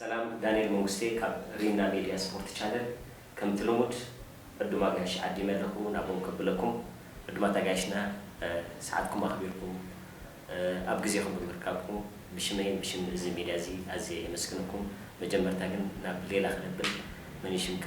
ሰላም ዳንኤል መንግስቴ ካብ ሪምና ሜድያ ስፖርት ቻነል ከምቲ ልሙድ ዕዱም ኣጋይሽ ዓዲመ ኣለኹ ናብኦም ከብለኩም ዕዱማት ኣጋይሽና ሰዓትኩም ኣኽቢርኩም ኣብ ግዜኹም ብምርካብኩም ብሽመይን ብሽም እዚ ሜድያ እዚ ኣዝየ የመስግነኩም መጀመርታ ግን ናብ ሌላ ክነብል መን እዩ ሽምካ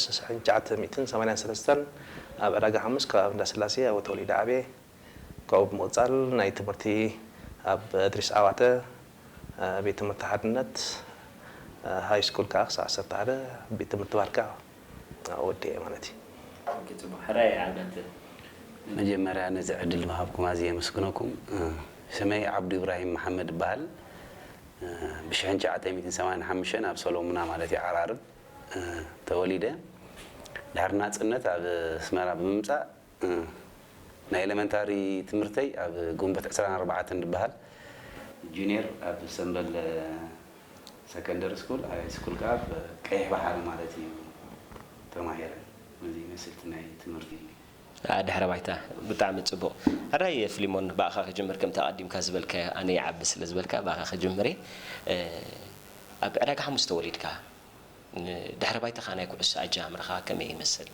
ሽሕን ትሽዓተ ሚእትን ሰማንያን ሰለስተን ኣብ ዕዳጋ ሓሙስ ከባቢ እንዳስላሴ ኣብኡ ተወሊደ ዓብየ። ካብኡ ብምቕፃል ናይ ትምህርቲ ኣብ እድሪስ ዓዋተ ቤት ትምህርቲ ሓድነት ሃይ ስኩል ከዓ ክሳዕ ዓሰርተ ሓደ ቤት ትምህርቲ ባርካ ኣብኡ ወዲኤ ማለት እዩ። ኦኬ ፅቡቅ ሕራይ ዓመት ንመጀመርያ ነዚ ዕድል ምሃብኩም ኣዝየ የመስግነኩም ስመይ ዓብዱ ኢብራሂም መሓመድ እባሃል ብ ሽሕን ትሽዓተ ሚእትን ሰማንያን ሓሙሽተን ኣብ ሰሎሙና ማለት እዩ ዓራርብ ተወሊደ ድሕሪ ናጽነት ኣብ ኣስመራ ብምምጻእ ናይ ኤለመንታሪ ትምህርተይ ኣብ ግንቦት ዕስራን ኣርባዕተን ድበሃል፣ ጁንየር ኣብ ሰምበል ሰከንደሪ ስኩል፣ ሃይ ስኩል ከኣ ኣብ ቀይሕ ባሕሪ ማለት እዩ ተማሂረ። ነዚ ይመስል እቲ ናይ ትምህርቲ ኣኣ ድሕረ ባይታ ብጣዕሚ ጽቡቅ ሕራይ ፍሊሞን ብኣኻ ክጅምር ከምቲ ኣቀዲምካ ዝበልካዮ ኣነ ይዓቢ ስለ ዝበልካ ብኣኻ ክጅምር እየ ኣብ ዕዳጋ ሓሙስ ተወሊድካ ድሕረ ባይታኻ ናይ ኩዕሶ ኣጀማምራኻ ከመይ ይመስል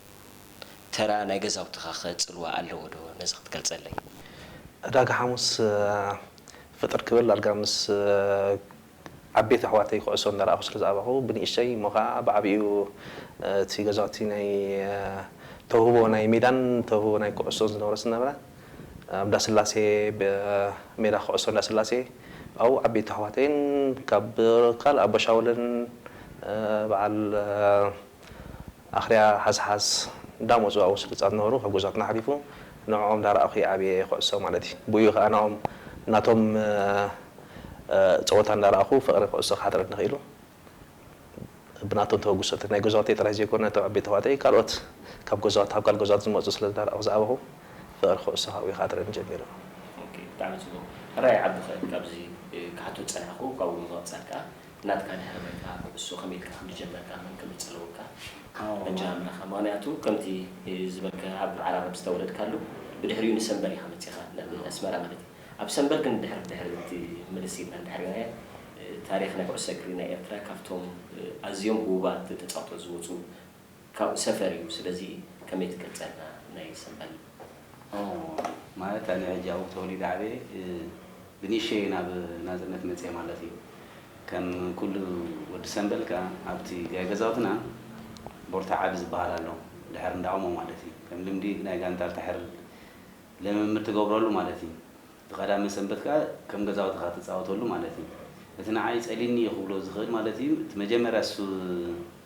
ተራ ናይ ገዛውትኻ ከ ጽልዋ ኣለዎ ዶ ነዚ ክትገልጸለይ። ዕዳጋ ሓሙስ ፍጥር ክብል ዳርጋ ምስ ዓበይቲ ኣሕዋተይ ኩዕሶ እንዳረኣኹ ስለ ዝዓበኹ ብንእሽተይ እሞ ከኣ ብዓቢኡ እቲ ገዛውቲ ናይ ተውህቦ ናይ ሜዳን ተውህቦ ናይ ኩዕሶን ዝነበሮ ስለ ዝነበረ ኣብ እንዳስላሴ ሜዳ ኩዕሶ እንዳስላሴ ኣብኡ ዓበይቲ ኣሕዋተይን ካብ ካልእ ኣቦሻውልን በዓል ኣኽርያ ሃስሃስ እንዳ መጹ ኣብኡ ስልጣት ነበሩ ካብ ገዝኦትና ሓሊፉ ንዕኦም እንዳ ራኣኹ እየ ዓብየ ኩዕሶ ማለት እዩ ብኡ ከኣ ናኦም ናቶም ጸወታ እንዳ ራኣኹ ፍቅሪ ኩዕሶ ክሓድረኒ ኪኢሉ ብናቶም ተበግሶ ናይ ገዛውተይ ጥራይ ዘይኮነ ነቶም ዓበይቲ ኣሕዋተይ ካልኦት ካብ ገዛውት ካብ ካልእ ገዛውት ዝመጹ ስለ እንዳ ራኣኹ ዝዓበኹ ፍቅሪ ኩዕሶ ካብኡ ክሓድረኒ ጀሚሩ። ኦኬ ብጣዕሚ ጽቡቅ ሕራይ ዓቢ ከ ካብዚ ክሓቶ ዝጸናሕኩ ካብኡ ብምቅጻል ከኣ ናትካ ድሕሪ ባይታ ኩዕሶ ከመይ ኢልካ ከም ዝጀመርካ መን ከም ዝጸለወካ ኣጀማምራኻ ምኽንያቱ ከምቲ ዝበልካዮ ኣብ ዓራርብ ዝተወለድካሉ ብድሕሪኡ ንሰምበር ኢኻ መጺኻ ናብ ኣስመራ ማለት እዩ ኣብ ሰምበር ግን ድሕሪ ብድሕሪ እቲ ምልስ ኢልና እንድሕር ርኢናዮ ታሪኽ ናይ ኩዕሶ እግሪ ናይ ኤርትራ ካብቶም ኣዝዮም ህቡባት ተጻወቲ ዝወጹ ካብኡ ሰፈር እዩ ስለዚ ከመይ ትገልጸልና ናይ ሰንበል። ኦህ ማለት ኣነ ሕጂ ኣብኡ ተወሊደ ዓብየ ብንእሽተየይ ናብ ናጽነት መጽየ ማለት እዩ ከም ኩሉ ወዲ ሰንበል ከኣ ኣብቲ ጋይ ገዛውትና ቦርታ ዓቢ ዝበሃል ኣሎ ድሕር እንዳ ኦሞ ማለት እዩ ከም ልምዲ ናይ ጋንታ ድሕር ልምምድ ትገብረሉ ማለት እዩ እቲ ቀዳመ ሰንበት ከኣ ከም ገዛውትኻ ትጻወተሉ ማለት እዩ እቲ ንዓይ ጸሊኒ እዩ ክብሎ ዝኽእል ማለት እዩ እቲ መጀመርያ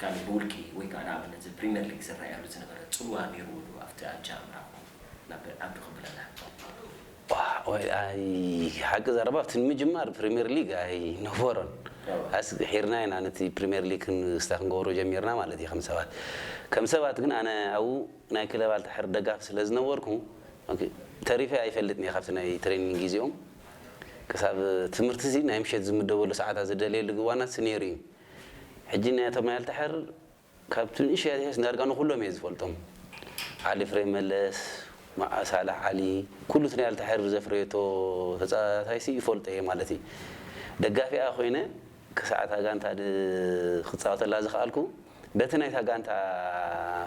ካልእ ብውልቂ ወይ ከኣ ንኣብነት እዚ ፕሪመር ሊግ ዝረኣየሉ ዝነበረ ጽልዋ ኔርዎ ዶ ኣብቲ ኣጀማምራኩም ናብ ዓዱ ክንብለላ? ቋዕ ወይ ኣይ ሓቂ ዘረባ ኣብቲ ንምጅማር ፕሪመር ሊግ ኣይ ነበሮን ኣስ ድሒርና ኢና ነቲ ፕሪመር ሊግ ክንስታ ክንገብሮ ጀሚርና ማለት እዩ ከም ሰባት ከም ሰባት ግን ኣነ ኣብኡ ናይ ክለብ ኣልታሕር ደጋፊ ስለ ዝነበርኩ ኦኬ ተሪፈ ኣይፈልጥን እየ ካብቲ ናይ ትሬኒንግ ግዜኦም ክሳብ ትምህርቲ እዚ ናይ ምሸት ዝምደበሉ ሰዓታት ዝደልየሉ ግዋናት ኔሩ እዩ። ሕጂ ናይ ኣቶ ማይልተ ሕር ካብቲ ንእሽቶይ ኣትሒዝ ዳርጋ ንኩሎም እየ ዝፈልጦም ዓሊ ፍሬ መለስ ማኣ ሳላሕ ዓሊ ኩሉ እቲ ናይ ኣልተ ሕር ዘፍረየቶ ተጻታታይሲ ይፈልጦ እየ ማለት እዪ ደጋፊኣ ኮይነ ክሳዕ እታ ጋንታ ክጻወተላ ዝክኣልኩ በቲ ናይታ ጋንታ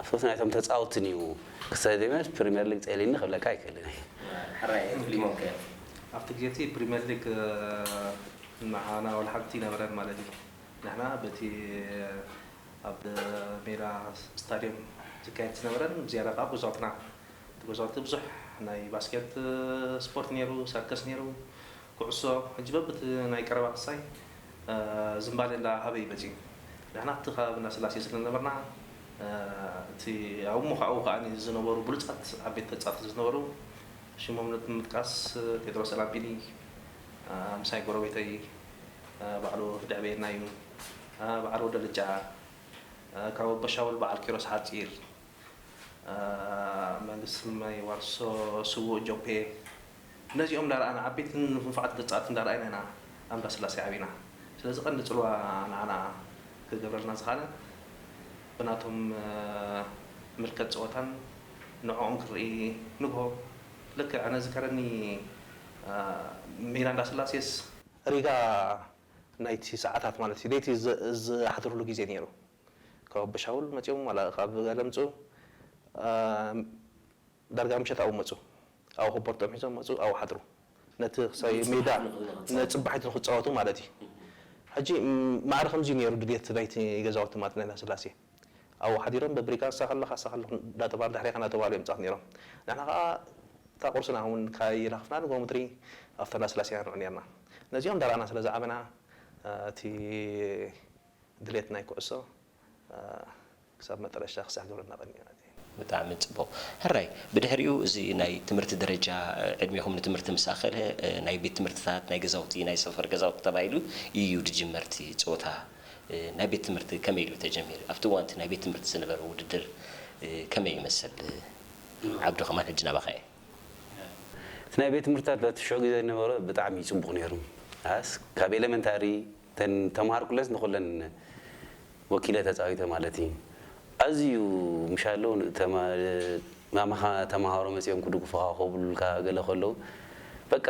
ፍት ናይቶም ተጻውትን እዩ ክሰደመ ፕሪመር ሊግ ጸሊኒ ክብለካ ኣይክእልን እየ። ሕራይ ፊሊሞን ከ ኣብቲ ግዜቲ ፕሪመር ሊግ ንዓና ውን ሓንቲ ይነበረን ማለት እዩ። ንሕና በቲ ኣብ ሜዳ ስታድየም ዝካየድ ዝነበረን ብዝያዳ ከኣ ጎዛልትና እቲ ጎዛልቲ ብዙሕ ናይ ባስኬት ስፖርት ነይሩ፣ ሰርከስ ነይሩ፣ ኩዕሶ ሕጂ በብቲ ናይ ቀረባ ክሳይ ዝምባሌ እንዳ ሃበ እዩ መጺኡ። ንሕና ኣብቲ ከባቢ እንዳ ስላሴ ስለ ዝነበርና እቲ ኣብኡ ምዃኡ ከኣ ዝነበሩ ብሉጻት ዓበይቲ ተጻወትቲ ዝነበሩ ሽሞም ንምጥቃስ ጴጥሮስ ኣላምጲኒ፣ ኣምሳይ ጎረቤተይ ባዕሉ ደዕበየና እዩ ባዓል ወደ ልጫ ካብ ኣቦሻውል ባዓል ኪሮስ ሓጺር መንግስቲ ስመይ ዋርሶ ስዉእ ጆፔ ነዚኦም እንዳረኣና ዓበይትን ንፉፋዓት ግጻት እንዳረኣይና ኢና ኣብ እንዳስላሴ ዓቢና ስለዚ ቀንዲ ጽልዋ ንዓና ክገብረልና ዝኻለ ብናቶም ምልከት ጸወታን ንዕኦም ክንርኢ ንግሆ ልክዕ ኣነ ዝከረኒ ሚራ እንዳስላሴስ። ሪጋ ናይቲ ሰዓታት ማለት እዩ ለይቲ ዝሓድርሉ ግዜ ነይሩ ካብ ኣቦሻውል መጺኦም ዋላ ካብ ጋለምጹ ዳርጋ ምሸት ኣብኡ መጹ ኣብኡ ኮቦርትኦም ሒዞም መጹ ኣብኡ ሓድሩ ነቲ ክሳብ ሜዳ ንጽባሒቱ ንክጻወቱ ማለት እዩ ሕጂ ማዕረ ከምዚ እዩ ነይሩ ድልየት ናይቲ ገዛውቲ ማለት ናይ እንዳስላሴ። ኣብኡ ሓዲሮም በብሪጋ ንሳ ከለኻ ንሳ ከለኹ እንዳተባህሉ ድሕሬኻ እንዳተባህሉ እዮም ጻት ኔሮም። ንሕና ከኣ እታ ቁርስና እውን ካይረኽፍና ንግሆ ምድሪ ኣብታ እንዳስላሴ ኢና ንዑ ኔርና። ነዚኦም እንዳረኣና ስለ ዝዓበና እቲ ድሌት ናይ ኩዕሶ ክሳብ መጠረሽታ ክሳዕ ግብርና ቀንዩ። ብጣዕሚ ጽቡቕ ሕራይ ብድሕሪኡ እዚ ናይ ትምህርቲ ደረጃ ዕድሜኹም ንትምህርቲ ምስ ኣኸለ ናይ ቤት ትምህርትታት ናይ ገዛውቲ ናይ ሰፈር ገዛውቲ ተባሂሉ ኢዩ ድጅመር እቲ ጸወታ ናይ ቤት ትምህርቲ ከመይ ኢሉ ተጀሚሩ ኣብቲ እዋን እቲ ናይ ቤት ትምህርቲ ዝነበረ ውድድር ከመይ ይመስል ዓብዱ ከማን ሕጂ ናባኻ ኢየ። እቲ ናይ ቤት ትምህርትታት በቲ ሽዑ ግዜ ዝነበረ ብጣዕሚ ጽቡቕ ኔሩ ኣስ ካብ ኤለመንታሪ እተን ተማሃር ኩለንስ ንኩለን ወኪለ ተጻዊተ ማለት እዪ ኣዝዩ ምሻሎ ማማኻ ተማሃሮ መጺኦም ክድጉፉኻ ኮብሉልካ ገለ ከለው በቃ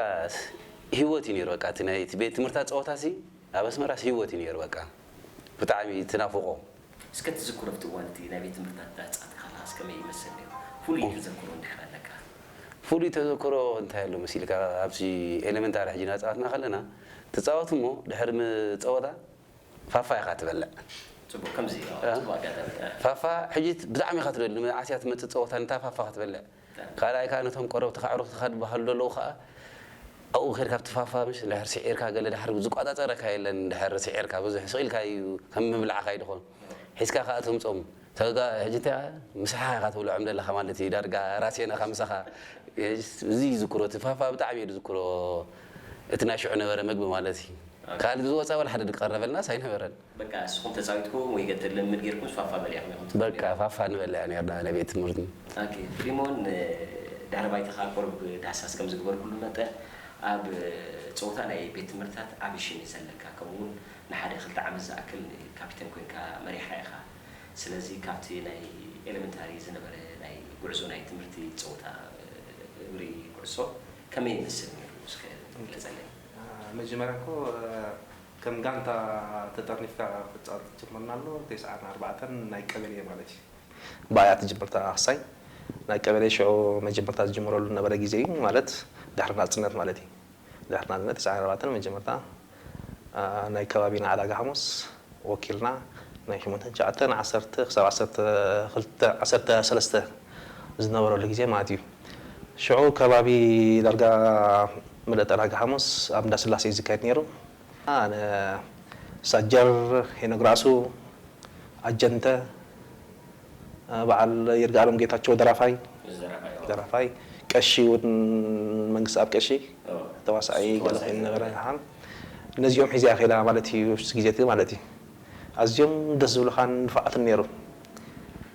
ሂወት እዩ ነይሩ በቃ እቲ ናይ ቤት ትምህርታ ጸወታሲ ኣብ ኣስመራስ ሂወት እዩ ነይሩ በቃ ብጣዕሚ ትናፍቆ እስከ ትዝክሮ ኣብቲ እዋን እቲ ናይ ቤት ትምህርትታት ዳህጻት ካላስ ከመይ ይመስል ነይሩ? ፍሉይ ተዘክሮ እንድሕር ኣለካ? ፍሉይ ተዘክሮ እንታይ ኣሎ መሲልካ ኣብዚ ኤለመንታሪ ሕጂ ናጻወትና ከለና ትጻወት እሞ ድሕሪ ም ጸወታ ፋፋ ኢኻ ትበልዕ። ጽቡቅ ከምዚ ጽቡቅ ኣጋጣሚ። ፋፋ ሕጂ ብጣዕሚ ኢኻ ትደሉ ንመዓስ እያ ትመጽእ ጸወታ ንታ ፋፋ ክትበልዕ። ካልኣይ ከኣ ነቶም ቆረብትኻ ኣዕሩኽትኻ ድበሃሉ ደለዉ ከኣ ኣብኡ ኬድካ ትፋፋ ምሽ እንድሕር ሲዒርካ ገለ ድሓር ዝቋጻጸረካ የለን እንድሕር ሲዒርካ ብዙሕ ስቅ ኢልካ ኢዩ ከም ምብላዕካ ኢዩ ድኾን ሒዝካ ከኣ ተምጾም ተጋ ሕጂ እንታይ ምሳሓ ኢኻ ትብልዖም ደለኻ ማለት ኢዩ ዳርጋ ራስየን እኻ ምሳኻ እዚ ኢዩ ዝዝክሮ እቲ ፋፋ ብጣዕሚ ኢየ ድዝክሮ እቲ ናይ ሽዑ ነበረ መግቢ ማለት ኢዩ ካልእ ዝወጻ ወላ ሓደ ድቀረበልናስ ኣይነበረን። በቃ እስኹም ተጻዊትኩ ወይ ገጠር ልምምድ ጌርኩምስ ፋፋ በልያ ኢኹም ኢኹም ትብሉ በቃ ኔርኩም። ፋፋ ንበልያ ኔርና ን ቤት ትምህርትና። ኣኬ ፍሊሞን ን ድሕረ ባይታኻ ቁሩብ ዳህሳስ ከም ዝግበርኩሉ መጠን ኣብ ጸወታ ናይ ቤት ትምህርትታት ዓቢ ሽም እዩ ዘለካ ከምኡ ውን ንሓደ ክልተ ዓመት ዝኣክል ካፒተን ኮንካ መሪሕካ ኢኻ ስለዚ ካብቲ ናይ ኤለመንታሪ ዝነበረ ናይ ጉዕዞ ናይ ትምህርቲ ጸወታ እግሪ ኩዕሶ ከመይ ይመስል ኔሩ እስከ ግለጸለይ። መጀመርያ እኮ ከም ጋንታ ተጠርኒፍካ ክትጻወት ትጅምርና ኣሎ ቴስዓን ኣርባዕተን ናይ ቀበሌ ማለት እዩ። ብኣያ ትጅምርታ ኣህሳይ ናይ ቀበሌ ሽዑ መጀመርታ ዝጅምረሉ ዝነበረ ግዜ እዩ ማለት ድሕሪ ናጽነት ማለት እዩ ድሕሪ ናጽነት ቴስዓን ኣርባዕተን መጀመርታ ናይ ከባቢና ዕዳጋ ሓሙስ ወኪልና ናይ ሽሞንተን ትሽዓተን ዓሰርተ ክሳብ ዓሰርተ ክልተ ዓሰርተ ሰለስተ ዝነበረሉ ግዜ ማለት እዩ። ሽዑ ከባቢ ዳርጋ ምሉእ ጠራጊ ሓሙስ ኣብ እንዳ ስላሴ እዩ ዝካየድ ነይሩ። ኣነ፣ ሳጀር ሄኖክ ራእሱ፣ ኣጀንተ፣ በዓል ይርጋኣለም ጌታቸው ደራፋይ፣ ደራፋይ፣ ቀሺ እውን መንግስተኣብ ቀሺ፣ ተዋሳኣይ ገለ ኮይኑ ነበረ። ኣሃ። ነዚኦም ሒዘ እያ ከይዳ ማለት እዩ፣ እሱ ግዜ እቲ ማለት እዩ። ኣዝዮም ደስ ዝብሉኻን ንፉዓትን ነይሩ።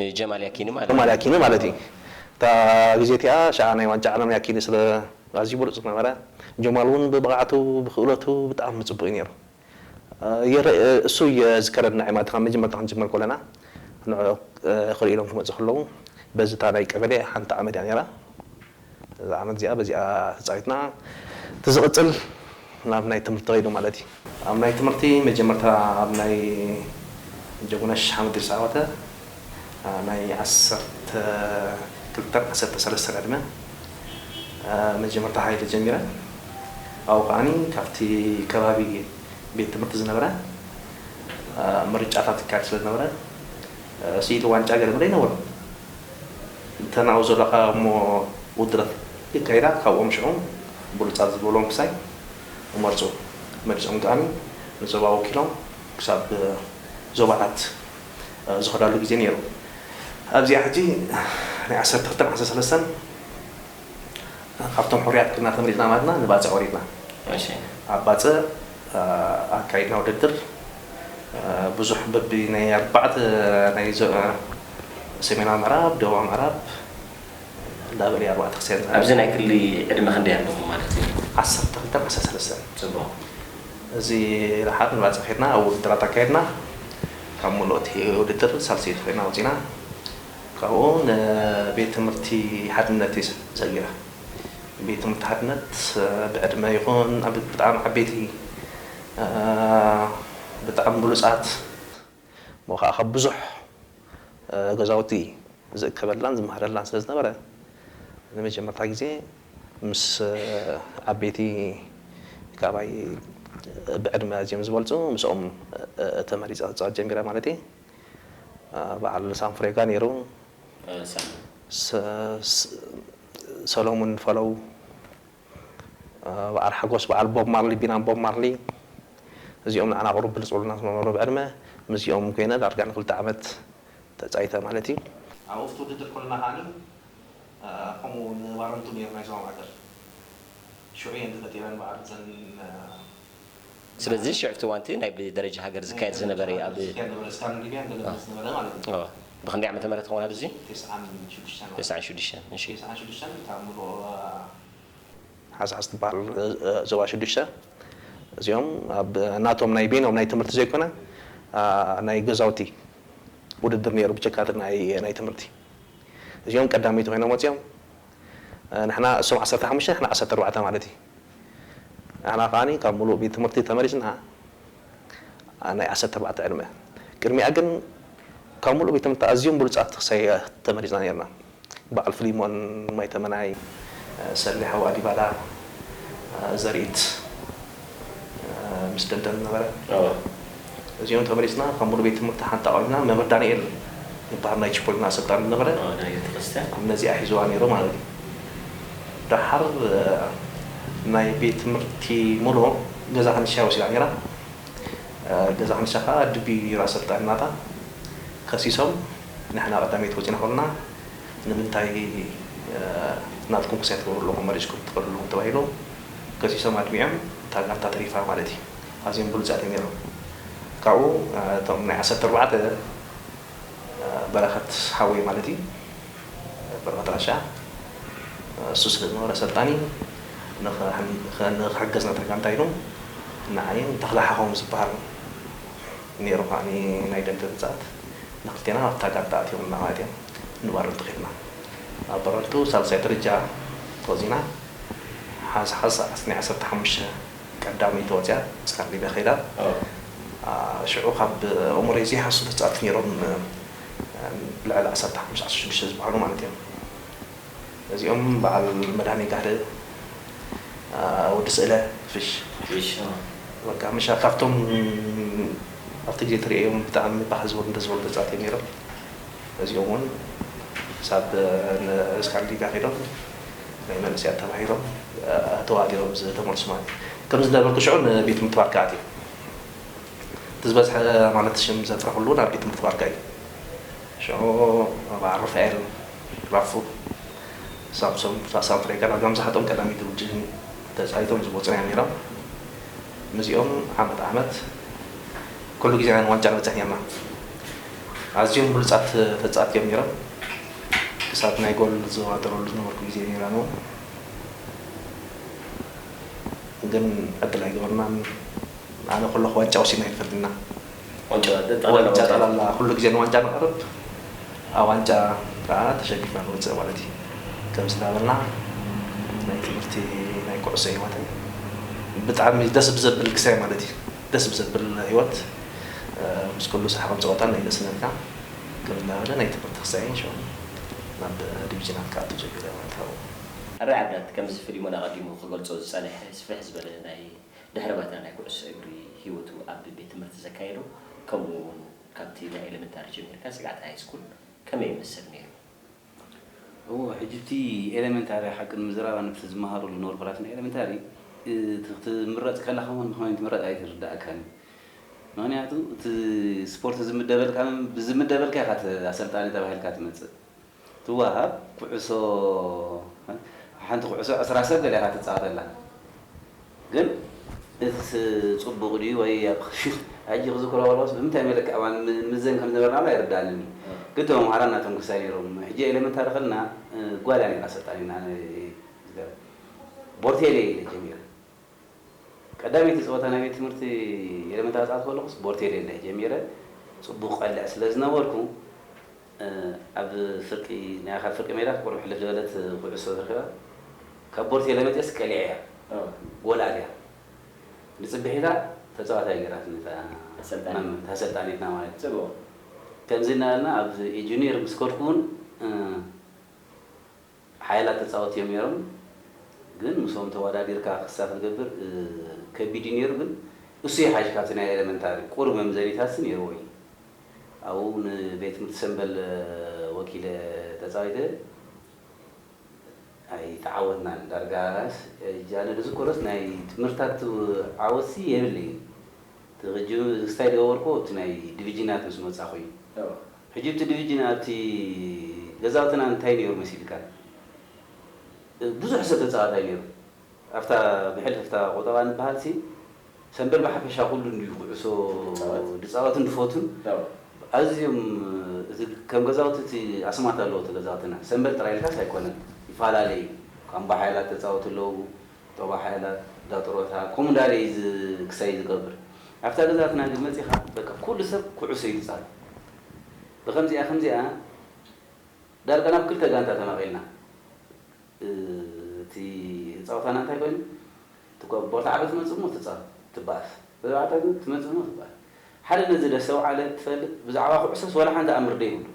ንጀማል ያኪኒ ማለት ጀማል እዩ። ያኪኒ ማለት እዩ። እታ ግዜ እቲኣ ሽዓ ናይ ዋንጫ ዓለም ያኪኒ ስለ ኣዝዩ ብሉጽ ዝነበረ፣ ጀማል እውን ብብቕዓቱ ብክእለቱ ብጣዕሚ ጽቡቕ እዩ ነይሩ። የረ እሱ የዝከረና ማለት ካብ መጀመርታ ክንጅምር ከለና ንዕዑ ክሪኡ ኢሎም ክመጹ ከለዉ በዚ እታ ናይ ቀበሌ ሓንቲ ዓመት እያ ነይራ። እዛ ዓመት እዚኣ በዚኣ ተጻዊትና እቲ ዝቕጽል ናብ ናይ ትምህርቲ ከይዱ ማለት እዩ። ኣብ ናይ ትምህርቲ መጀመርታ ኣብ ናይ ጀጉነሽ ሓምድ ዝተዓወተ ናይ ዓሰርተ ክልተን ዓሰርተ ሰለስተን ዕድመ መጀመርታ ሓይሊ ጀሚረ ኣብኡ ከኣ ካብቲ ከባቢ ቤት ትምህርቲ ዝነበረ ምርጫታት ይካየድ ስለ ዝነበረ ስኢሉ ዋንጫ ገለ መለ ኣይነበሮን። እተን ኣብኡ ዘለኻዮሞ ውድድራት የካይዳ ካብኦም ሽዑ ብሉጻት ዝበሎም ክሳይ እመርጹ መሊሶም ከኣ ንዞባ ወኪሎም ክሳብ ዞባታት ዝኸዳሉ ግዜ ነይሩ ኣብዚኣ ሕጂ ናይ ዓሰርተ ክልተን ዓሰርተ ሰለስተን ካብቶም ሕሩያት ኩና ተመሪጽና ማለትና ንባጽዕ ወሪድና። ኣብ ባጽዕ ኣካይድና ውድድር ብዙሕ በቢ ናይ ኣርባዕተ ናይ ሰሜናዊ ምዕራብ፣ ደቡባዊ ምዕራብ እንዳበለ እዩ ኣርባዕተ ክስያን ዝሃበ። ኣብዚ ናይ ክሊ ዕድመ ክንደይ ኣለኹም ማለት እዩ? ዓሰርተ ክልተን ዓሰርተ ሰለስተን። ጽቡቕ። እዚ ረሓቕ ንባጽዕ ከድና ኣብ ውድድራት ኣካይድና ካብ ምሉእ እቲ ውድድር ሳልሰይቲ ኮይና ወጺእና። ካብኡ ንቤት ትምህርቲ ሓድነት እየ ሰጊረ። ቤት ትምህርቲ ሓድነት ብዕድመ ይኹን ብጣዕሚ ዓበይቲ ብጣዕሚ ብሉፃት እሞ ከዓ ካብ ብዙሕ ገዛውቲ ዝእከበላን ዝመሃረላን ስለ ዝነበረ ንመጀመርታ ግዜ ምስ ዓበይቲ ካባይ ብዕድመ ኣዝዮም ዝበልፁ ምስኦም ተመሪፀ ክፃወት ጀሚረ ማለት እየ። በዓል ሳንፍሬጋ ነይሩ። ሰለሙን ፈለው በዓል ሓጎስ በዓል ቦብ ማርሊ ቢናም ቦብ ማርሊ እዚኦም ንዓና ቅሩብ ብልጹልና ስለዝነበሩ ብዕድመ ምስዚኦም ኮይነ ዳርጋ ንክልተ ዓመት ተጻዊተ ማለት እዩ። ኣብ ኦፍት ውድድር ኮለና ከኣ ከምኡ ንባረንቱ ነይሩ ናይ ዞባ ማእከል ሽዑ እየን ተፈጢረን በዓል እዘን ስለዚ ሽዕ እቲ እዋንቲ ናይ ብደረጃ ሃገር ዝካየድ ዝነበረ እዩ ኣብ ዝካየድ ዝነበረ ስካን ሊብያ ገለ ዝነበረ ማለት እዩ ኦዎ ብክንደይ ዓመተ ምህረት ይከውን ኣብዚ ቴስዓን ሽዱሽተን ማለት ቴስዓን ሽዱሽተን እሺ ቴስዓን ሽዱሽተን እታ ምሉእ ሓዝሓዝ ትባሃል ዞባ ሽዱሽተ እዚኦም ኣብ ናቶም ናይ በይኖም ናይ ትምህርቲ ዘይኮነ ናይ ገዛውቲ ውድድር ነይሩ ብጀካ እቲ ናይ ናይ ትምህርቲ እዚኦም ቀዳመይቲ ኮይኖም ወጺኦም ንሕና እሶም ዓሰርተ ሓሙሽተ ንሕና ዓሰርተ ኣርባዕተ ማለት እዩ ንሕና ከኣ ካብ ምሉእ ቤት ትምህርቲ ተመሪጽና ናይ ዓሰርተ ኣርባዕተ ዕድመ። ቅድሚኣ ግን ካብ ምሉእ ቤት ትምህርቲ ኣዝዮም ብሉጻት ክሰያት ተመሪጽና ኔርና። በዓል ፍሊሞን፣ ማይ ተመናይ፣ ሰሌ ሓዋ ዲባላ፣ ዘርኢት ምስ ደደብ ዝነበረ። እዚኦም ተመሊስና ካብ ሙሉ ቤት ትምህርቲ ሓንቲ ኣቅሪብና መምህር ዳንኤል ዝባሃል ናይ ቺፖሊና ኣሰልጣኒ ዝነበረ ነዚኣ ሒዝዋ ነይሩ ማለት እዩ ዳሓር ናይ ቤት ትምህርቲ ሙሉ ገዛ ክንሻ እያ ወሲዳ ነይራ ገዛ ክንሻ ካኣ ድቢ እዩ ነይሩ ኣሰልጣኒ ናታ ከሲሶም ንሕና ቀዳመይቲ ወፂና ከሎና ንምንታይ ናትኩም ክሳይ ትገብሩ ኣለኩም መሪፅኩም ትከዱ ኣለኩም ተባሂሎም ከሲሶም ኣድሚዖም እታ ጋንታ ተሪፋ ማለት እዩ። ኣዝዮም ብሉጻት እዮም ኔሮም ካብኡ እቶም ናይ ዓሰርተ ኣርባዕተ በረኸት ሓወይ ማለት እዩ በረኸት ራሻ እሱ ስለ ዝነበረ ኣሰልጣኒ ንክሕገዝ ነታ ጋንታ ኢሎም ንዓይን ተኽለ ሓኾም ዝብሃል ኔሩ ከኣ ናይ ደምበ ብጻት ንክልቴና ኣብታ ጋንታ ኣእትዮምና ማለት እዮም ንባረንቱ ከድና ኣብ ባረንቱ ሳልሳይ ደረጃ ተወዚና ሓንሳእ ሓንሳእ ናይ ዓሰርተ ሓሙሽተ ቀዳመይቲ ወጽያ ምስካብ ሊብያ ከይዳ ሽዑ ካብ ኣእምሮይ ዘይሃሱ ተጻቲ ኔሮም ልዕሊ ዓሰርተ ሓሙሽተ ዓሰርተ ሽዱሽተ ዝባሃሉ ማለት እዮም እዚኦም ባዓል መድሃኔ ጋህሪ ወዲ ስእለ ፍሽ በቃ ምሻ ካብቶም ኣብቲ ግዜ ትሪኤዮም ብጣዕሚ ባህ ዝበሉ ደስ ዝበሉ ተጻቲ እዮም ኔሮም እዚኦም ውን ክሳብ እስካንዲንብያ ከይዶም ናይ መንእሰያት ተማሂሮም ተዋዲኦም ዝተመልሱ ማለት እዩ። ከምዚ እንዳበልኩ ሽዑ ንቤት ትምህርቲ ባርካ ኣትየ። እቲ ዝበዝሐ ማለት ሽም ዘጥረኹሉ ናብ ቤት ትምህርቲ ባርካ እዩ። ሽዑ በዓል ሩፋኤል፣ ራፉ፣ ሳምሶም፣ ሳምሶም ፍሬካ ዳርጋ ምብዛሕትኦም ቀዳመይቲ ጉጅለ ተጻዊቶም ዝመጹና እዮም ነይሮም። ምስዚኦም ዓመት ዓመት ኩሉ ግዜ ንዋንጫ ንበጽሕ ነይርና። ኣዝዮም ብሉጻት ተጻወትቲ እዮም ነይሮም። እሳት ናይ ጎል ዝዋጠረሉ ዝነበርኩ ግዜ ነይራ ነው ግን ዕድል ኣይገበርናን ኣነ ከለኩ ዋንጫ ወሲድና ኣይንፈልጥና ዋንጫ ጠላላ ኩሉ ግዜ ንዋንጫ ንቀርብ ኣብ ዋንጫ ከኣ ተሸኒፍና ንወጽእ ማለት እዩ ከምዚ ናበልና ናይ ትምህርቲ ናይ ኩዕሶ ሂወተይ ብጣዕሚ ደስ ብዘብል ግሰ ማለት እዩ ደስ ብዘብል ሂወት ምስ ኩሉ ሳሕቅን ጸወታን ኣይነስነፍና። ከም እናበለ ናይ ትምህርቲ ክሳይን ሸውኒ ናብ ዲቪጅናት ክኣቱ ጀሚረ ማለት ኣው። ኣባይ ዓዳት ከምዚ ፍሊሞን ኣቐዲሙ ክገልጾ ዝጸንሐ ስፍሕ ዝበለ ናይ ድሕረ ባይታ ናይ ኩዕሶ እግሪ ሂወቱ ኣብ ቤት ትምህርቲ ዘካየዶ ከምኡ ውን ካብቲ ናይ ኤለመንታሪ ጀሚርካ ስግዓት ሃይስኩል ከመይ ይመስል ኔሩ? እወ ሕጂ እቲ ኤለመንታሪ ሓቂ ንምዝራብ ኣነ በቲ ዝመሃረሉ ዝነበርኩ ራስና ኤለመንታሪ እቲ ክትምረጽ ከለኻ እውን ብኸመይ ምትምረጽ ኣይርደኣካን እዩ ምኽንያቱ እቲ ስፖርት ዝምደበልካ ብዝምደበልካ ኢኻ ኣሰልጣኒ ተባሂልካ ትመጽእ ትወሃብ ኩዕሶ ሓንቲ ኩዕሶ ዕስራ ሰብ ገለ ኢኻ ትጻወተላ ግን እዚስ ጽቡቕ ድዩ ወይ ኣብ ሕጂ ክዝክሮ ከለኹስ ብምንታይ መለክዒ እባ ንምዘን ከም ዝነበርና ውን ኣይርድኣንን እዩ። ግን እቶም ኣምሓራ እናተንኩሳ ነይሮም። ሕጂ ኤለመንታሪ ከለና ጓል እያ ነይራ ኣሰልጣኒትና ኣነ ዝገርም ቦርቴሌ ኢለ ጀሚረ። ቀዳመይቲ ጸወታ ናይ ቤት ትምህርቲ ኤለመንታሪ ዝጻወትኩ ከለኹስ ቦርቴሌ ኢለ ጀሚረ። ጽቡቕ ቀልዕ ስለ ዝነበርኩ ኣብ ፍርቂ ናይ ኣካል ፍርቂ ሜዳ ክትቆርብ ሕልፍ ዝበለት ኩዕሶ ተረኪባ ካብ ቦርቴለመጤስ ቀሊዐያ ጎል ኣትያ ንጽብሒታ ተጻዋታይ ጌራትኒ እታ መምህር እታ ኣሰልጣኒትና ማለት እዩ ከምዚ እናበልና ኣብ ጁንየር ምስ ከድኩ ውን ሓያላት ተጻወቲ እዮም ኔሮም ግን ምስኦም ተዋዳዲርካ ክሳ ክትገብር ከቢድ እዩ ኔሩ ግን እሱ ይሓይሽ ካብቲ ናይ ኤለመንታሪ ቁሩብ መምዘኒታትሲ ኔርዎ እዩ ኣብኡ ን ቤት ትምህርቲ ሰምበል ወኪለ ተጻዊተ ኣይተዓወትናን ዳርጋስ እጃነ ድዝክሮስ ናይ ትምህርታት ዓወትሲ የብለይን እቲ ክጅምር ክስታይ ድገበርኩዎ ኣብቲ ናይ ድቪጂናት ምስ መጻኹ እዩ ሕጂ እቲ ድቪጅን ኣብቲ ገዛውትና እንታይ ነይሩ መሲልካ ብዙሕ ሰብ ተጻዋታይ ነይሩ ኣብታ ብሕልፍታ ቁጠባ ንበሃል ሲ ሰምበል ብሓፈሻ ኩሉ እንድዩ ኩዕሶ ድጻወትን ድፎቱን ኣዝዮም እቲ ከም ገዛውቲ እቲ ኣስማት ኣለዎ እቲ ገዛውትና ሰምበል ጥራይ ኢልካስ ኣይኮነን ይፋላለ እዩ ኳምባሓይላት ተጻወቱ ኣለዉ ጦባ ሓይላት ዳጥሮታ ከምኡ እንዳለ ኢዩ ክሳይ ዝገብር ኣብታ ገዛትና ግን መጺኻ በቃ ኩሉ ሰብ ኩዑሶ ኢዩ ዝጻወት ብከምዚኣ ከምዚኣ ዳርጋ ናብ ክልተ ጋንታ ተመቂልና እቲ ጻውታና እንታይ ኮይኑ እቲ ቦርታዕሮ ትመጽእ እሞ ትጻወት ትባኣስ ተባዕታይ ግን ትመጽእ እሞ ትባኣስ ሓደ ነዚ ደስተውዓለ ትፈልጥ ብዛዕባ ኩዑሶስ ዋላ ሓንቲ ኣምር ደይብሉ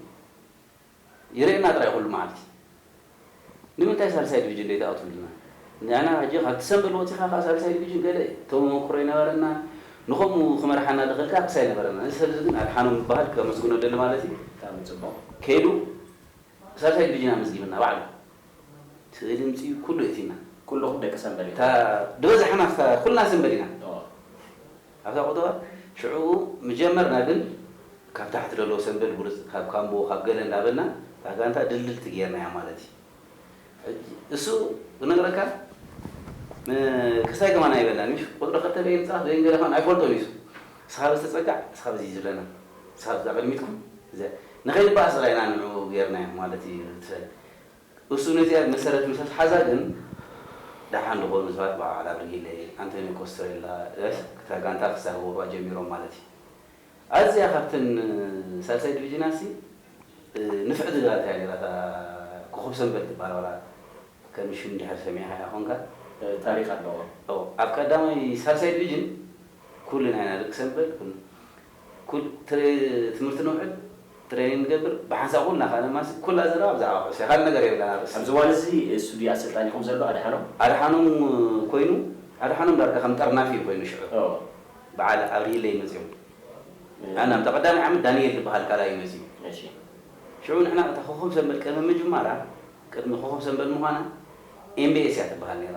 ይርኤና ጥራይ ኩሉ መዓልቲ ንምንታይ ሳልሳይ ድቪጅን ደይትኣትውልና ንሕና ሕጂ ካብቲ ሰምበል ወጺኻ ከኣ ሳልሳይ ድቪጅን ገለ ተመመኩሮ ኣይነበረናን ንከምኡ ክመርሓና ድክእል ክስ ኣይነበረናን እዚ ሰብዚ ግን ኣድሓኖም ይብሃል ከመስግኖ እደሊ ማለት እዩ ብጣዕሚ ጽቡቅ ከይዱ ሳልሳይ ድቪጅን ኣመዝጊብልና ባዕሉ እቲ ድምጺ ኩሉ እቲና። ኩሉኹም ደቂ ሰምበል ኢኹም። እታ ድበዛሕና ኩልና ሰምበል ኢና። ኣብታ ቁጠባ ሽዑኡ ምጀመርና ግን ካብ ታሕቲ ደለዉ ሰንበል ብርጽ ካብ ካምቦ ካብ ገለ እንዳበልና እታ ጋንታ ድልድልቲ ገርናያ ማለት እዩ ሕጂ እሱ ክነግረካ ን ከስታይ ከማን ኣይበልናን እዩ ቁጽሪ ክልተ በየን ንጻወት በየን ገለ ከማን ኣይፈልጦን እዩ እሱ እስኻ በስ ተጸጋዕ እስኻ በዚ ዝብለና እስኻ እዛ ቅድሚትኩም እዚኣ ንኸይንባኣስ ጥራይ ኢና ንዑኡ ገርናዮ ማለት እዩ ትፈል እሱ ነዚኣ ብመሰረት ምስ ኣትሓዛ ግን ደሓን ዝኾኑ ሰባት በዓል ኣብርጊለ፣ ኣንቶንዮ ኮስተሬላ፣ እፍ እታ ጋንታ ክሳበቡዋ ጀሚሮም ማለት እዩ። ኣዝያ ካብተን ሳልሳይ ዲቪዥናትሲ ንፍዕ ዝገበረት እያ ነይራ እታ ኮኾብሰንበል ትበሃል ዋላ ከም ሽም ድሕር ሰሚዕኻያ ኮንካ። ታሪኽ ኣለዋ። ኣብ ቀዳማይ ሳልሳይ ዲቪዥን ኩልና ኢና ደቂ ሰንበል። ትምህርቲ ነውዕል ትሬኒንግ ንገብር ብሓንሳብ ኩልና ከኣ ነማስይ ኩላ ዘረባ ብዛዕባ ኩዕሶ እያ ካልእ ነገር የብላን ኣርእስቲ። ኣብዚ እዋን እዚ ሱዲ ኣሰልጣኒ ኹም ዘሎ ኣድሓኖም። ኣድሓኖም ኮይኑ ኣድሓኖም ዳርጋ ከም ጠርናፊ እዩ ኮይኑ ሽዑ በዓል ኣብርሂለ እዩ መጺኡ ኣነ ኣብታ ቀዳማይ ዓመት ዳኒኤል ዝበሃል ካልኣይ እዩ መጺኡ ሽዑ ንሕና እታ ኮኾብ ሰንበል ቅድሚ ምጅማራ ቅድሚ ኮኾብ ሰንበል ምዃና ኤምቢኤስ እያ ትበሃል ኔራ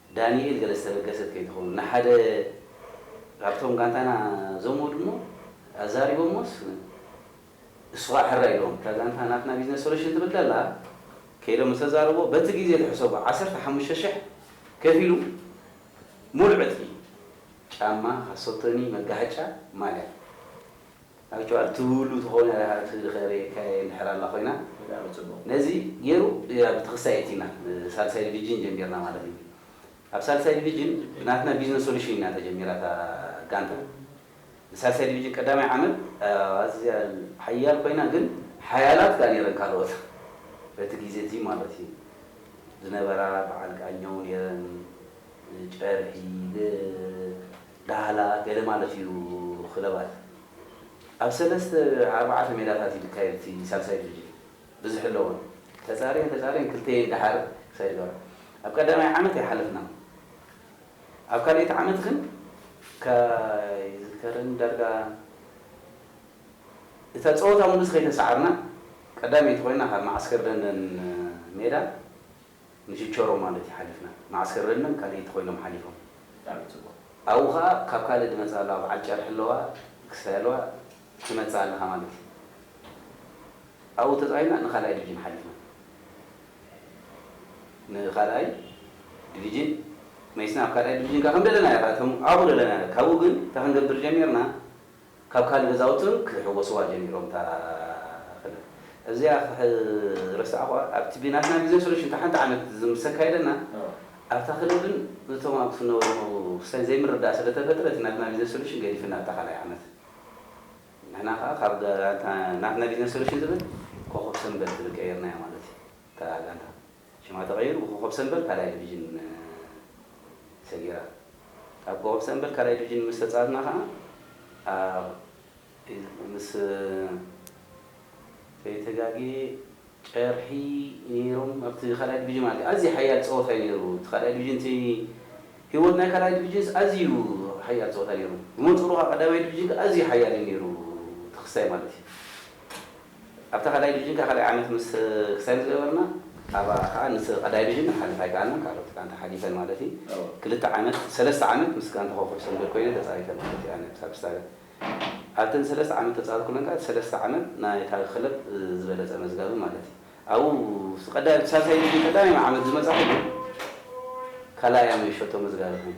ዳኒኤል ገለ ዝተበገሰት ከይትኸውን ንሓደ ካብቶም ጋንታና ዘሞ ድሞ ኣዛሪቦሞስ እሱኻኣ ሕራይ ኢሎም እታ ጋንታ ናትና ቢዝነስ ሶሉሽን ትብል ደላ ከይዶም ምስ ኣዛረብዎ በቲ ግዜ ትሕሰቦ ዓሰርተ ሓሙሽተ ሽሕ ከፊሉ ሙሉእ ዕጥቂ ጫማ ካሶቶኒ መጋሃጫ ማልያ Actual ትብሉ ተኮነ ኣቲ ኸሬ ካየ እንድሕር ኣላ ኮይና ነዚ ጌሩ ኣብ ተክስታይ የእቲና ሳልሳይ ድቪጅን ጀሚርና ማለት እዩ ኣብ ሳልሳይ ድቪጅን ብናትና ቢዝነስ ሶሉሽን ኢና ተጀሚራ እታ ጋንታ ንሳልሳይ ድቪጅን ቀዳማይ ዓመት ኣዝያ ሓያል ኮይና ግን ሓያላት ካኣ ኔረን ካልኦት በቲ ጊዜ እቲ ማለት እዩ ዝነበራ ባዓል ቃኘው ኔረን ጨርሒ ዳህላ ገለ ማለት እዩ ክለባት ኣብ ሰለስተ ኣርባዓተ ሜዳታት እዩ ድካየድ እቲ ሳልሳይ ድርጅት ብዝሒ ኣለዎን ተጻርየን ተጻርየን ክልተየን ድሓር ሳይድ ጋር ኣብ ቀዳማይ ዓመት ኣይሓለፍናን ኣብ ካልኣይቲ ዓመት ግን ኣይዝከርን ዳርጋ እታ ጸወታ ምሉስ ከይተሳዓርና ቀዳመይቲ ኮይና ካብ መዓስከር ደንደን ሜዳ ንችቸሮ ማለት እዩ ሓሊፍና መዓስከር ረንም ካልእይቲ ኮይኖም ሓሊፎም ብጣዕሚ ጽቡቅ ኣብኡ ከኣ ካብ ካልእ ድመጽኣ ኣለዋ በዓል ጨርሒ ኣለዋ ክስታይ ኣለዋ ትመጽእ ኣለካ ማለት እዩ ኣብኡ ተጻዊና ንካልኣይ ድቪጅን ሓሊፍና ንካልኣይ ድቪጅን መይስና ኣብ ካልኣይ ድቪጅን ከኣ ከምደለናዮ ከኣ ኣብኡ ደለናዮ ካብኡ ግን እንታይ ክንገብር ጀሚርና ካብ ካልእ ገዛውቲ እውን ክሕወስዋ ጀሚሮም እታ ክልል እዚኣ ክረሳዕኹዋ ኣብቲ ብናትና ግዜ ስለ ሽንተ ሓንቲ ዓመት ዝምሰካየደና ኣብታ ክልል ግን እቶም ኣብቲ ክነብሩ ዝነበሩ ክሳይ ዘይምርዳእ ስለ ተፈጥረ እቲ ናትና ቢዝነስ ሶሉሽን ገዲፍና ኣብታ ካልኣይ ዓመት ንሕና ከኣ ካብ ጋንታ ናትና ቢዝነስ ሶሉሽን ዝብል ኮኾብ ሰንበል ዝብል ቀይርናያ ማለት እዩ እታ ጋንታ ሽማ ተቐይሩ ብኮኾብ ሰምበል ካልኣይ ድቪዥን ሰጊራ። ኣብ ኮኾብ ሰምበል ካልኣይ ድቪዥን ምስ ተጻወትና ከኣ ኣብ ምስ ከይተጋግየ ጨርሒ ነይሮም ኣብቲ ካልኣይ ድቪዥን ማለት እዩ። ኣዝዩ ሓያል ጸወታ'ዩ ነይሩ እቲ ካልኣይ ድቪዥን እቲ ህይወት ናይ ካልኣይ ድቪዥንስ ኣዝዩ ሓያል ጸወታ ነይሩ። ብመንጽሩ ከኣ ቀዳማይ ድቪዥን ከኣ ኣዝዩ ሓያል'ዩ ነይሩ እቲ ክስታይ ማለት እዩ። ኣብታ ካልኣይ ድቪዥን ከኣ ካልኣይ ዓመት ምስ ክሳይ ምስ ገበርና ኣብኣ ከኣ ንስ ቀዳይ ድቪዥን ክንሓልፍ ኣይከኣልናን ካልኦት ጋንታ ሓሊፈን ማለት እዩ ክልተ ዓመት ሰለስተ ዓመት ምስ ጋንታ ኮኾብ ሰንበት ኮይነን ተጻዊተን ማለት እዩ ኣነ ሳብስታለ ኣብተን ሰለስተ ዓመት ተጻዊት ኩለን ከኣ እቲ ሰለስተ ዓመት ናይታ ክለብ ዝበለጸ መዝጋቢ ማለት እዩ ኣብኡ ኣብቲ ቀዳይ ኣብቲ ሳልሳይ ድቪዥን ቀዳማይ ዓመት ዝመጻኹ ግን ካልኣይ ኣመ ሸቶ መዝጋቢ ኮይነ።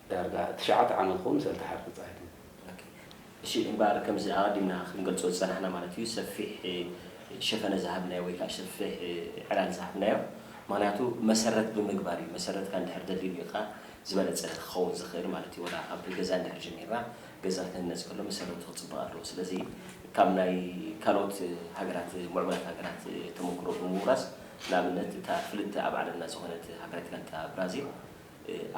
ዳርጋ ትሽዓተ ዓመት ክኸውን ሰልቲ ሓርፊ ጸሓይ ትብል። እሺ እምበኣር ከምዚ ኣቐዲምና ክንገልጾ ዝጸናሕና ማለት እዩ ሰፊሕ ሸፈነ ዝሃብናዮ ወይ ከኣ ሰፊሕ ዕላል ዝሃብናዮ ምኽንያቱ መሰረት ብምግባር እዩ መሰረትካ እንድሕር ደልዲልካ ዝበለጸ ክኸውን ዝኽእል ማለት እዩ ወላ ካብ ገዛ እንድሕር ጀሚርና ገዛ ክህነጽ ከሎ መሰረቱ ክጽብቕ ኣለዎ ስለዚ ካብ ናይ ካልኦት ሃገራት ሙዕቡላት ሃገራት ተመኩሮ ብምውራስ ንኣብነት እታ ፍልጥቲ ኣብ ዓለምና ዝኾነት ሃገረት ጋንታ ብራዚል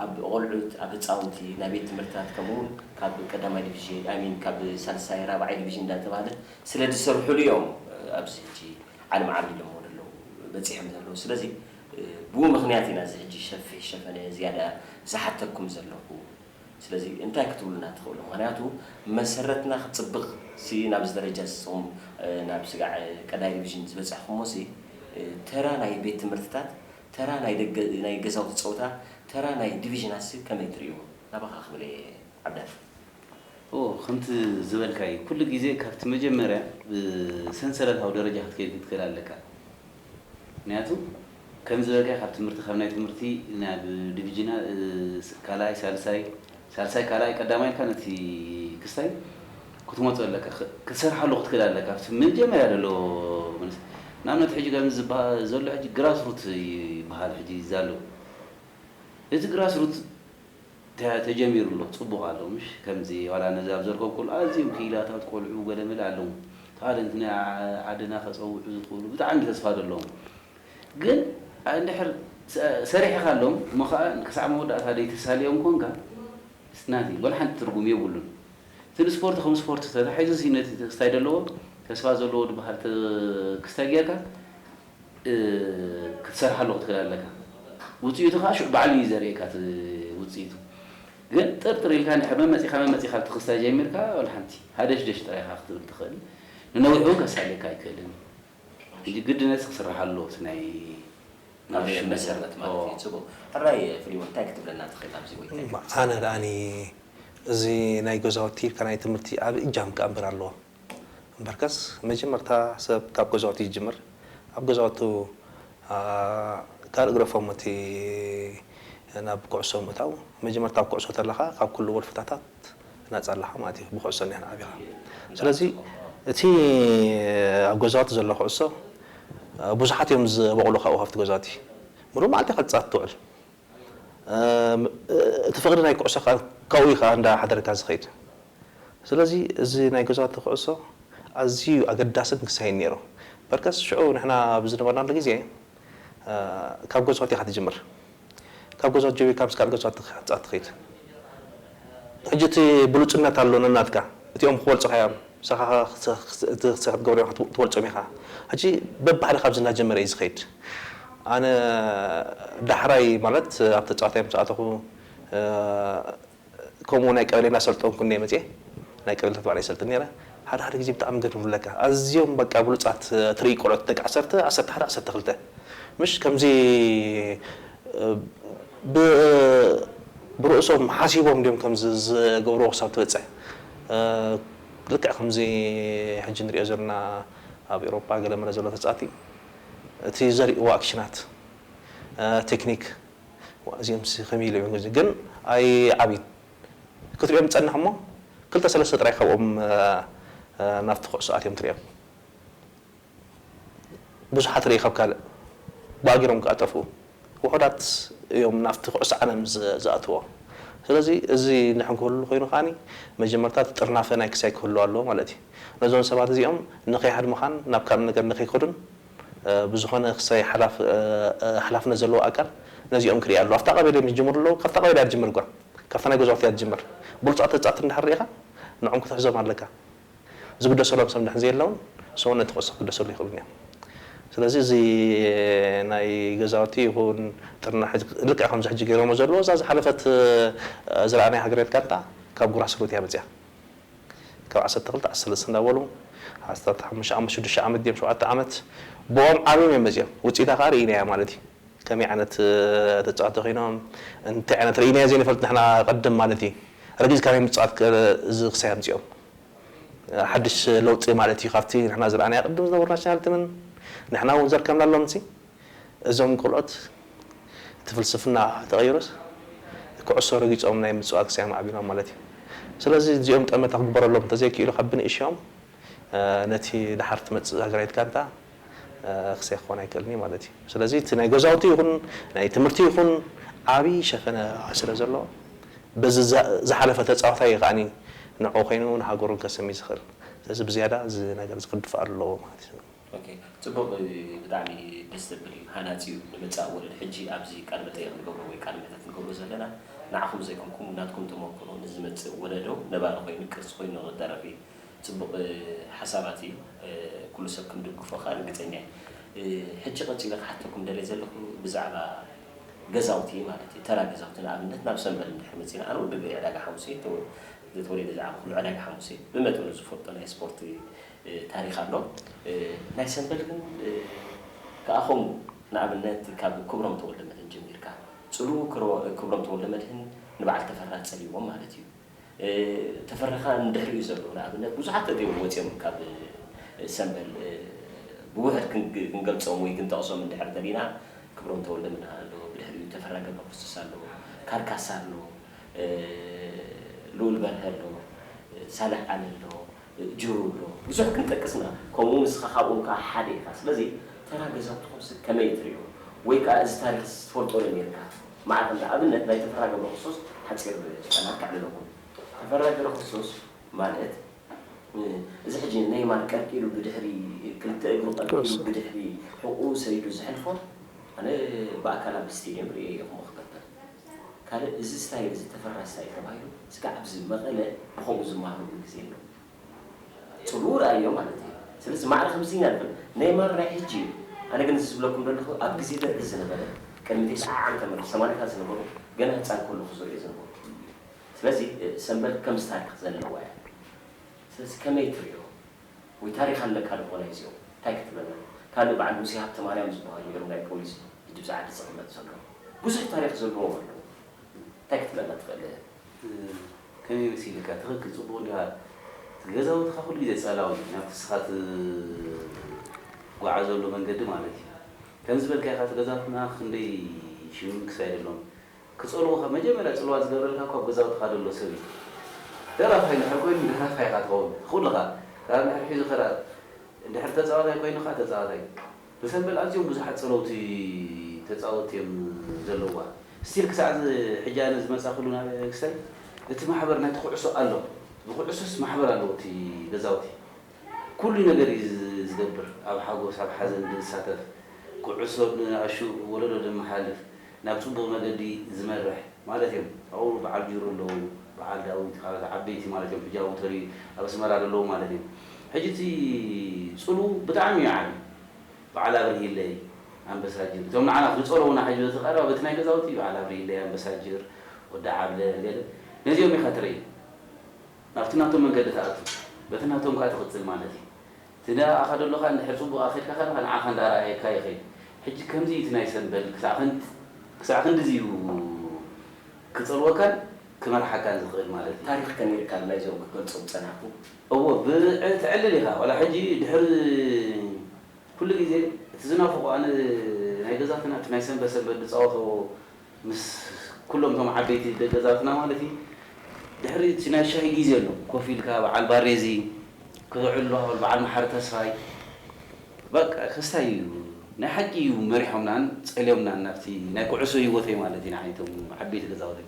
ኣብ ቆልዑት ኣብ ህጻውንቲ ናይ ቤት ትምህርትታት ከምኡ ውን ካብ ቀዳማይ ዲቪዥን ኣይ ሚን ካብ ሳልሳይ ራብዓይ ዲቪዥን እንዳ ተባህለ ስለ ዝሰርሑሉ እዮም ኣብዚ ሕጂ ዓለም ዓብ ኢሎሞ ደለዉ በጺሖም ዘለዉ ስለዚ ብኡ ምኽንያት ኢና እዚ ሕጂ ሸፊሕ ሸፈነ ዝያዳ ዝሓተኩም ዘለኹ ስለዚ እንታይ ክትብሉና ትኽእሉ ምኽንያቱ መሰረትና ክጽብቅ ሲ ናብዚ ደረጃ ንስኹም ናብ ስጋዕ ቀዳይ ዲቪዥን ዝበጻሕኩሞ ሲ ተራ ናይ ቤት ትምህርትታት ተራ ናይ ደገ ናይ ገዛውቲ ጸውታ ተራ ናይ ዲቪዥናትሲ ከመይ ትርእይዎ? ናባኻ ክብል እየ ዓብዳን። እዎ ከምቲ ዝበልካዩ ኩሉ ግዜ ካብቲ መጀመርያ ብሰንሰለታዊ ደረጃ ክትከይድ ክትክእል ኣለካ ምክንያቱ ከምዝበልካዮ ካብ ትምህርቲ ካብ ናይ ትምህርቲ ናብ ዲቪጅና ካልኣይ ሳልሳይ ሳልሳይ ካልኣይ ቀዳማይ ኢልካ ነቲ ክስታይ ክትመጾ ኣለካ ክትሰርሓሉ ክትክል ኣለካ ኣብቲ መጀመርያ ዘሎ መንእሰይ ንኣብነት ሕጂ ከምዚ ዝብሃል ዘሎ ሕጂ ግራስ ሩት ይብሃል ሕጂ ዛሎ እቲ ግራስ ሩት ተጀሚሩ ኣሎ ጽቡቅ ኣሎ ምሽ ከምዚ ዋላ ነዚ ኣብ ዘርከብኩሉ ኣዝዮም ክኢላታት ቆልዑ ገለመለ ኣለዉ ታኣለንት ናይ ዓድና ከጸውዑ ዝክእሉ ብጣዕሚ ተስፋ ዘለዎም ግን እንድሕር ሰሪሕኻሎም እሞ ኸኣ ክሳዕ መወዳእታ ደይተሳልዮም ኮንካ it's nothing ወላ ሓንቲ ትርጉም የብሉን። እቲ ንስፖርት ከም ስፖርት ተታሒዙሲ ነቲ ክስታይ ደለዎ ተስፋ ዘለዎ ድበሃል ክስታይ ጌርካ ክትሰርሓሉ ክትክእል ኣለካ። ውጽኢቱ ኸኣ ሽዑ ባዕሉ እዩ ዘርእየካ እቲ ውጽኢቱ። ግን ጥርጥር ኢልካ እንድሕር መመጺኻ መመጺኻ ኣብቲ ክስታይ ጀሚርካ ወላ ሓንቲ ሃደሽደሽ ጥራይ ኢኻ ክትብል ትኽእል። ንነዊሕውን ከሳልየካ ኣይክእልን እዩ። ሕጂ ግድነት ክስራሕ ኣለዎ እቲ ናይ ማርሽ መሰረት ማለት እዩ ጽቡቅ ሕራይ ፍሊሞን እንታይ ክትብለና ትክእል ኣብዚ ወይ እንታይ ክትጽሕፍ ኣነ ደኣኒ እዚ ናይ ገዛውቲ ይብካ ናይ ትምህርቲ ዓቢ እጃም ክኣንብር ኣለዎ እምበርከስ መጀመርታ ሰብ ካብ ገዛውቲ ይጅምር ኣብ ገዛውቱ ካልእ ግደፎም እቲ ናብ ኩዕሶ ምእታው መጀመርታ ኣብ ኩዕሶ ተለካ ካብ ኩሉ ወልፍታታት ናጻ ኣለኻ ማለት እዩ ብኩዕሶ ኒሕን ዓቢኻ ስለዚ እቲ ኣብ ገዛውቲ ዘሎ ኩዕሶ ብዙሓት እዮም ዝበቑሉ ካብኡ ካብቲ ገዛውቲ ምሉእ መዓልቲ ኢኻ ትጻወት ትውዕል እቲ ፍቕሪ ናይ ኩዕሶ ከኣ ካብኡ እዩ ከኣ እንዳ ሓደረካ ዝኸይድ ስለዚ እዚ ናይ ገዛውቲ ኩዕሶ ኣዝዩ ኣገዳስን ክሳይን ነይሩ በርከስ ሽዑ ንሕና ኣብ ዝነበርናሉ ግዜ ካብ ገዛውቲ ኢኻ ትጅምር ካብ ገዝዋ ጀቢርካ ምስ ካልእ ገዝዋ ክትጻእ ትኺድ ሕጂ እቲ ብሉጽነት ኣሎ ነናትካ እቲኦም ክበልጹኻ እዮም ንስኻ እቲ ክትገብሮ ዘለካ ትበልጾም ኢኻ ሕጂ በብሓደ ካብዚ እናጀመረ እዩ ዝኸይድ ኣነ ዳሕራይ ማለት ኣብ ተጻዋታይ ምስ ኣተኹ ከምኡ ናይ ቀበሌ እናሰልጠንኩ እንድየ መፅየ ናይ ቀበሌታት ባዕለይ ይሰልጥን ነይረ ሓደ ሓደ ግዜ ብጣዕሚ ገርምብለካ ኣዝዮም በቃ ብሉፃት ትርኢ ቆልዑት ደቂ ዓሰርተ ዓሰርተ ሓደ ዓሰርተ ክልተ ምሽ ከምዚ ብ ብርእሶም ሓሲቦም ድዮም ከምዚ ዝገብርዎ ክሳብ ትበፅሕ ልክዕ ከምዚ ሕጂ ንሪኦ ዘለና ኣብ ኤውሮፓ ገለ መለ ዘሎ ተፃእቲ እቲ ዘሪእዎ ኣክሽናት ቴክኒክ ዋእ እዚኦምሲ ከመይ ኢሎም እዮም ግን ኣይዓብዩን ክትሪኦም ጸንሕ እሞ ክልተ ሰለስተ ጥራይ ካብኦም ናብቲ ኩዕሶ ኣትዮም ትሪኦም ብዙሓት ርእይ ካብ ካልእ ባእጊሮም ከኣ ጠፍኡ ውሑዳት እዮም ናብቲ ኩዕሶ ዓለም ዝኣትዎ ስለዚ እዚ እንድሕር ክህሉ ኮይኑ ከኣ መጀመርታ እቲ ጥርናፈ ናይ ክሳይ ክህሉ ኣለዎ ማለት እዩ ነዞም ሰባት እዚኦም ንከይሃድሙኻን ናብ ካልእ ነገር ንከይከዱን ብዝኾነ ክሳይ ሓላፍነት ዘለዎ ኣካል ነዚኦም ክሪኢ ኣለዎ። ኣብታ ቀበሌ ምስ ዝጅምሩ ኣለዉ ካብታ ቀበሌ እያ ትጅምር እኳ ካብታ ናይ ገዛውቲ እያ ትጅምር ብሉጻት ህጻት እንድሕር ሪኢኻ ንዖም ክትሕዞም ኣለካ ዝግደሰሎም ሰብ እንድሕር ዘየለውን ሰው ነቲ ኩዕሶ ክግደሰሉ ኣይክእሉን እዮም ስለዚ እዚ ናይ ገዛውቲ ይኹን ጥርናሐ ልክዕ ከምዚ ሕጂ ገይሮሞ ዘለዉ እዛ ዝሓለፈት ዝረኣናያ ሃገራዊት ጋንታ ካብ ጉራስሩት እያ መጺኣ ካብ ዓሰርተ ክልተ ዓሰርተ ሰለስተ እንዳበሉ ዓሰርተ ሓሙሽተ ዓመት ሽዱሽተ ዓመት ድዮም ሸውዓተ ዓመት ብኦም ዓብዮም እዮም መጺኦም ውጽኢታ ከኣ ርኢናያ ማለት እዩ ከመይ ዓይነት ተጻወቲ ኮይኖም እንታይ ዓይነት ርኢናዮ ዘይንፈልጥ ንሕና ቅድም ማለት እዩ ረጊጽካ ናይ ምጽዋት እዚ ክሳይ ኣምጺኦም ሓድሽ ለውጢ ማለት እዩ ካብቲ ንሕና ዝረኣናዮ ቅድም ዝነበሩ ናሽናል ትምን ንሕና ውን ዘርከብናሎምሲ እዞም ቆልዑት እቲ ፍልስፍና ተቐይሩስ ኩዕሶ ረጊጾም ናይ ምጽዋት ክሳብ ኣማዕቢሎም ማለት እዩ። ስለዚ እዚኦም ጠመተ ክግበረሎም እንተዘይክኢሉ ካብ ብንእሽኦም ነቲ ደሓር ትመጽእ ሃገራዊት ጋንታ ክሳይ ክኾን ኣይክእልን እዩ ማለት እዩ። ስለዚ እቲ ናይ ገዛውቲ ይኹን ናይ ትምህርቲ ይኹን ዓቢ ሸፈነ ስለ ዘሎ በዚ ዝሓለፈ ተጻዋታይ እዩ ከኣ ንዕኡ ኮይኑ ንሃገሩን ከሰሚ ዝኽእል። ስለዚ ብዝያዳ እዚ ነገር እዚ ክድፋእ ኣለዎ ማለት እዩ። ኦኬ ጽቡቅ ብጣዕሚ ደስ ዘብል እዩ ሃናጺ እዩ ንመጻኢ ወለዶ ሕጂ ኣብዚ ቃለ መጠየቅ ንገብሮ ወይ ቃለ መሕተት ንገብሮ ዘለና ንዓኹም ዘይኮንኩም ናትኩም ተመኩሮ ንዝመጽእ ወለዶ ነባሪ ኮይኑ ቅርሲ ኮይኑ ንክተርፍ እዩ ጽቡቅ ሓሳባት እዩ ኩሉ ሰብ ክንድግፎ ከኣ ርግጸኛ እየ ሕጂ ቀጺለ ክሓተኩም ደልየ ዘለኹ ብዛዕባ ገዛውቲ ማለት እዩ ተራ ገዛውቲ ንኣብነት ናብ ሰምበል እንድሕር መጺና ኣነ ወዲ ዕዳጋ ሓሙሴ እየ ተወሊደ ዝዓበኹሉ ዕዳጋ ሓሙሴ ብመጠኑ ዝፈልጦ ናይ ስፖርት ታሪኽ ኣሎ ናይ ሰምበል ግን ክኣ ከምኡ ንኣብነት ካብ ክብሮም ተወልደመድህን ጀሚርካ ጽልኡ ክብሮም ተወልደመድህን ንብዓል ተፈራ ጸሊእዎም ማለት እዩ ተፈራ ክኣ ንድሕሪኡ ዘሎ ንኣብነት ብዙሓት ተገይሮም ወጽዮም ካብ ሰምበል ብውሕድ ክንገልጾም ወይ ክንጠቕሶም እንድሕር ተሊና ክብሮም ተወልደመድህ ኣሎ ብድሕሪኡ ተፈራ ገብረክርስቶስ ኣሎ ካር ካሳ ኣሎ ልኡል በርሀ ኣሎ ሳልሕ ዓሊ ኣሎ ጅሩ ብሮ ብዙሕ ክንጠቅስ ኢና ከምኡ ንስኻ ካብኦም ከኣ ሓደ ኢኻ ስለዚ ተራ ገዛውትኹምስ ከመይ ትሪኦ ወይ ከኣ እዚ ታሪኽስ ትፈልጦ ዶ ኔርካ መዓር ከም ንኣብነት ናይ ተፈራ ገብረክርስቶስ ሓጺር ጨና ከዕልለኩም ተፈራ ገብረክርስቶስ ማለት እዚ ሕጂ ነይማር ቀልቂሉ ብድሕሪ ክልተ እግሩ ቀልቂሉ ብድሕሪ ሕቁኡ ሰዲዱ ዝሕልፎ ኣነ ብኣካል ኣብ ስቴድየም ርእየዮ ክም ክገብር ካልእ እዚ ስታይል እዚ ተፈራሲ ስታይል ተባሂሉ እስከ ኣብዚ መቐለ ብኸምኡ ዝማሃሩሉ ግዜ ኣሎ ጽቡቕ ርኣዮ ማለተይ እዩ ስለዚ ማዕረ ከምዚ ኢና ንብል ነይማር ናይ ሕጂ እዩ ኣነ ግን እዚ ዝብለኩም ዘለኹ ኣብ ግዜ ደርጊ ዝነበረ ቅድሚ ተስዓ ዓመተ ምህረት ሰማንያታት ዝነበሩ ገና ህጻን ከለኹ ዝርእዮ ዝነበርኩ እዩ ስለዚ ሰንበት ከምዚ ታሪኽ ዘለዋ እያ ስለዚ ከመይ ትርእዮ ወይ ታሪኽ ኣለካ ዶ ኮላይ እዚኦ ታይ ክትብለና ካልእ በዓል ሙሴ ሃብተማርያም ዝብሃሉ እዮም ናይ ፖሊስ ብድብዛ ዓዲ ዝቅመጥ ዘሎ ብዙሕ ታሪኽ ዘለዎም ኣለዉ ታይ ክትብለና ትኽእል። ከመይ መሲልካ ትክክል ጽቡቅ እንዲካ እቲ ገዛውትካ ኩሉ ግዜ ጸላው እዩ ናብቲ ንስካ ትጉዓዘሉ መንገዲ ማለት እዩ ከምዝበልካዮ ከኣ እቲ ገዛውትና ክንደይ ሽምም ክሳይድ ኣሎም ክጸልዉኻ መጀመርያ ጽልዋ ዝገብረልካ እኮ ኣብ ገዛውትኻ ደሎ ሰብ እዩ ደራፋይ እንድሕር ኮይኑ ደራፋይ ኢኻ ትኸውን ትኽእልኻ ክራር እንድሕር ሒዙ ክራር እንድሕር ተጻዋታይ ኮይኑ ከኣ ተጻዋታይ ብሰንበል ኣዝዮም ብዙሓት ጸለውቲ ተጻወቲ እዮም ዘለዉዋ ስቲል ክሳዕ እዚ ሕጂ ኣነ ዝመጻኽሉ ናበክስተይ እቲ ማሕበር ናይቲ ኩዕሶ ኣሎ ዝኹዕሱስ ማሕበር ኣለዎ እቲ ገዛውቲ ኩሉ ነገር እዩ ዝገብር ኣብ ሓጎስ ኣብ ሓዘን ብዝሳተፍ ኩዕሶ ንኣሹ ወለዶ ደመሓልፍ ናብ ጽቡቕ መገዲ ዝመርሕ ማለት እዮም። ኣብኡ በዓል ጅሩ ኣለዉ፣ በዓል ዳዊት፣ ካልኦት ዓበይቲ ማለት እዮም፣ ሕጂ ኣብኡ ተሪር ኣብ ኣስመራ ዘለዉ ማለት እዮም። ሕጂ እቲ ጽልዉ ብጣዕሚ እዩ ዓቢ። በዓል ኣብርሂለይ፣ ኣንበሳ ጅር፣ እቶም ንዓና ዝጸልዉና ሕጂ በዚ ቀረባ በቲ ናይ ገዛውቲ በዓል ኣብርሂለይ፣ ኣንበሳ ጅር፣ ወዲ ዓብለ፣ ገለ ነዚኦም ኢኻ ትርኢ። ናብቲ ናቶም መንገዲ ትኣቱ፣ በቲ ናቶም ከኣ ትቕጽል ማለት እዩ። ትዳ ኣኸዶ ኣለኻ እንድሕር ጽቡቕ ኣኸድካ ከለኻ ንዓኻ እንዳ ኣርኣየካ ይኸይድ ሕጂ ከምዚ እቲ ናይ ሰምበል ክሳዕ ክንድ ክሳዕ ክንድዚ እዩ ክጸልወካን ክመርሓካን ዝኽእል ማለት እዩ። ታሪኽ ከኒርካል ናይዞም ክትገልጾም ጸናሕኩ። እወ ብ ዕል ትዕልል ኢኻ ዋላ ሕጂ ድሕሪ ኩሉ ግዜ እቲ ዝናፍቖ ኣነ ናይ ገዛትና እቲ ናይ ሰምበል ሰምበል ንጻወቶ ምስ ኩሎም እቶም ዓበይቲ ደገዛትና ማለት እዩ ድሕሪ እቲ ናይ ሻሂ ግዜ ኣሎ ኮፍ ኢልካ በዓል ባሬዚ ክተዕልሉ ሃበል በዓል መሓሪ ተስፋይ በቃ ከስታይ እዩ ናይ ሓቂ እዩ መሪሖምናን ጸልዮምናን ናብቲ ናይ ኩዑሶ ሂወተይ ማለት እዩ ንዓይ እቶም ዓበይቲ ገዛውተይ